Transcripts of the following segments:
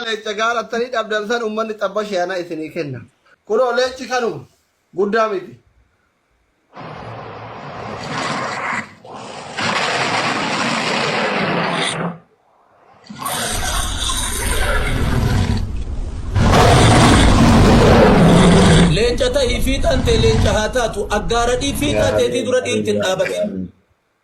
Leenca gaarattanii dhabdan san ummanni xabba sheeyanaa isinii kenna. Kunoo leenci kanuma guddaa miti. Leenca ta'ii fiixaan tee leenca haa taatu. Aggaaradhii fiixaa teetii dura dhiirti hin dhaabatin.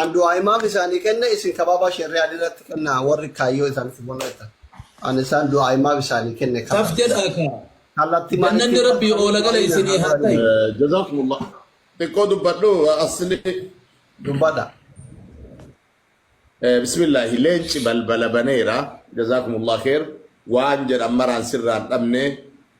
An du'aa imaam isaanii kenne isin kabaabaa sherri'aan irratti kennaa warri kaayyoo isaanitti mul'atan. An isaan du'aa imaam isaanii kenne Taf kallatti jedhaa kaa. kallatti maalitti Jannanni Rabbii kallatti oola gala maaliin isinii haa ta'i. Eh, Jazakumullah. Xiqqoo dubbadhu asli. dubbadha. Eh, Bismillah. Leenci balbala baneera. Jazakumullah kheer. Waan jedhan maraan sirraan dhabne.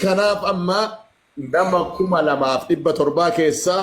Kanaaf amma nama kuma lamaaf dhibba torbaa keessaa